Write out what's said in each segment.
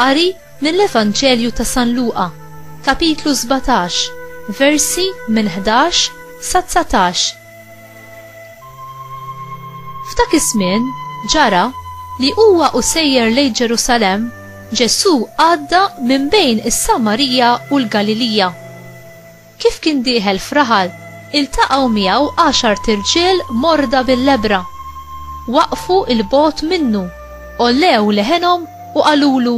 Qari mill-Evanġelju ta' San Luqa, kapitlu sbatax, versi minn ħdax sa dsatax. F'dak iż-żmien ġara li huwa u sejjer lejn Ġerusalemm, Ġesù għadda minn bejn is-Samarija u l-Galilija. Kif kien dieħel f'raħal, iltaqgħu miegħu għaxart irġiel morda bil-lebbra. Waqfu 'l bogħod minnu, għollew leħenhom u qalulu,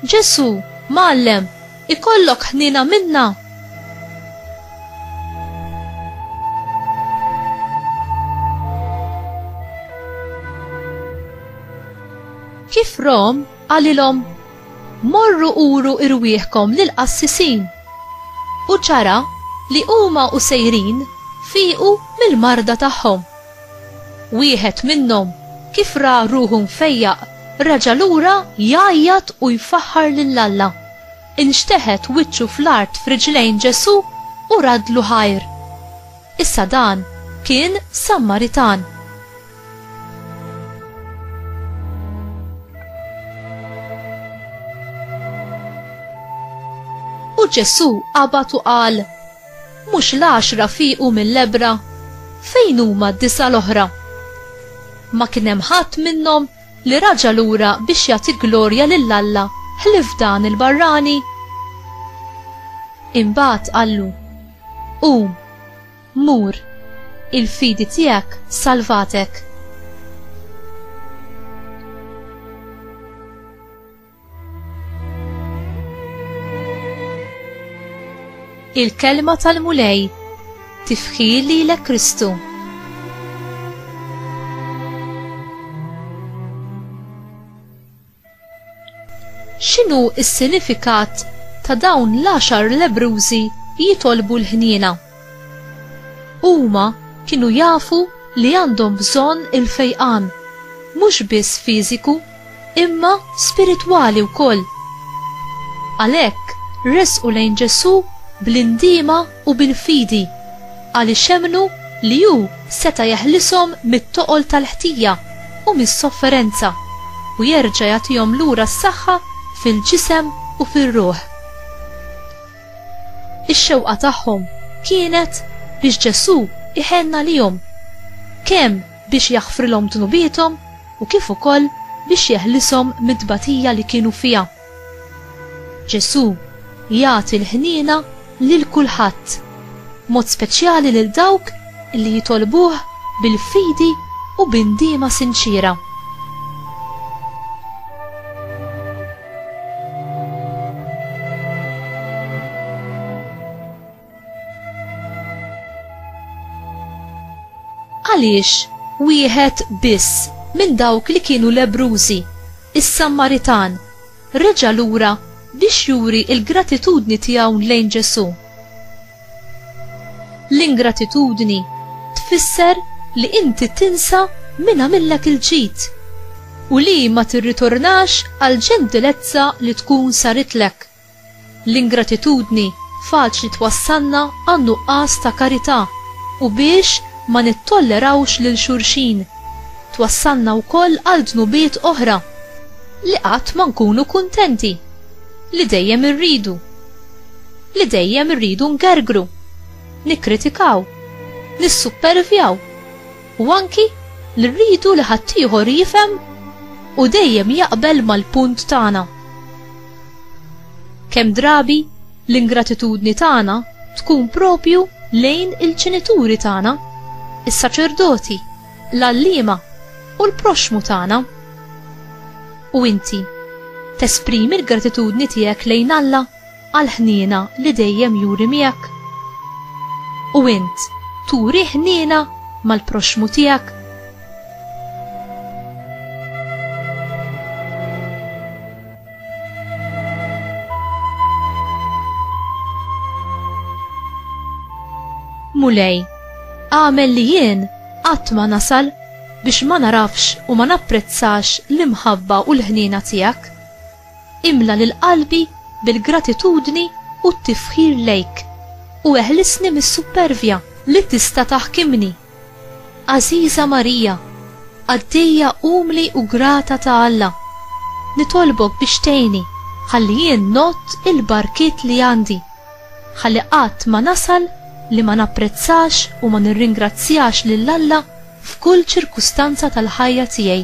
Ġesù, Mgħallem, ikollok ħniena minna! Kif rahom, qalilhom, Morru uru irwieħkom lill-qassisin, u ċara li huma u sejrin fiequ mill-marda tagħhom. Wieħed minnhom kif ra ruħu mfejjaq reġa' lura jgħajjat u jfaħħar lil Alla, inxteħet wiċċu fl-art f'riġlejn Ġesù u radlu ħajr. Issa dan kien Sammaritan. U Ġesù qabad u qal, Mhux l-għaxra fiequ mill-lebra? Fejn huma d-disa' l-oħra? Ma kien hemm ħadd minnhom li raġa' lura biex jagħti glorja lil Alla ħlief dan il-barrani? Imbagħad qallu, Qum, Mur, il-fidi tiegħek salvatek. Il-kelma tal-Mulej tifħi lilek Kristu. X'inhu s-sinifikat ta' dawn l-għaxar lebrużi jitolbu l-ħniena? Huma kienu jafu li għandhom bżonn il-fejqan, mhux biss fiżiku, imma spiritwali wkoll. Għalhekk resqu lejn Ġesù bl-indiema u bil-fidi, għaliex emmnu li hu seta' jeħlishom mit-toqol tal-ħtija u mis-sofferenza u jerġa' jagħtihom lura s-saħħa fil-ġisem u fir-ruħ. Ix-xewqa tagħhom kienet biex Ġesù jħenn għalihom, kemm biex jaħfrilhom dnubiethom u kif ukoll biex jeħlishom mit-tbatija li kienu fiha. Ġesù jagħti l-ħniena lil kulħadd, b'mod speċjali lil dawk li jitolbuh bil-fidi u bi ndiema sinċiera. Għaliex wieħed biss minn dawk li kienu lebrużi, is-Sammaritan, reġa' lura biex juri l-gratitudni tiegħu lejn Ġesù. L-ingratitudni tfisser li inti tinsa min għamillek il-ġid u li ma tirritornax għal ġentilezza li tkun saritlek. L-ingratitudni faċli twassalna għan-nuqqas ta' karità u biex ma nittollerawx lil xulxin. Twassalna wkoll għal dnubiet oħra, li qatt ma nkunu kuntenti, li dejjem irridu, li dejjem irridu ngergru, nikkritikaw, nissuppervjaw. u anki li rridu li ħaddieħor jifhem u dejjem jaqbel mal-punt tagħna. Kemm drabi l-ingratitudni tagħna tkun propju lejn il-ġenituri tagħna, is-saċerdoti, l-għalliema u l-proxmu tagħna. U inti, tesprimi l-gratitudni tiegħek lejn Alla? għall-ħniena li dejjem juri miegħek? U int turi ħniena mal-proxxmu tiegħek? Mulej, għamel li jien qatt ma nasal biex ma narafx u ma napprezzax l-imħabba u l-ħniena tiegħek Imla lil qalbi bil-gratitudni u t-tifħir lejk, u eħlisni mis-suppervja li tista' taħkimni. Għażiża Marija, qaddejja umli u grata ta' Alla, nitolbok biex tgħinni ħalli jien ngħodd il-barkiet li għandi, ħalli qatt ma nasal li ma napprezzax u ma nirringrazzjax lil Alla f'kull ċirkustanza tal-ħajja tiegħi.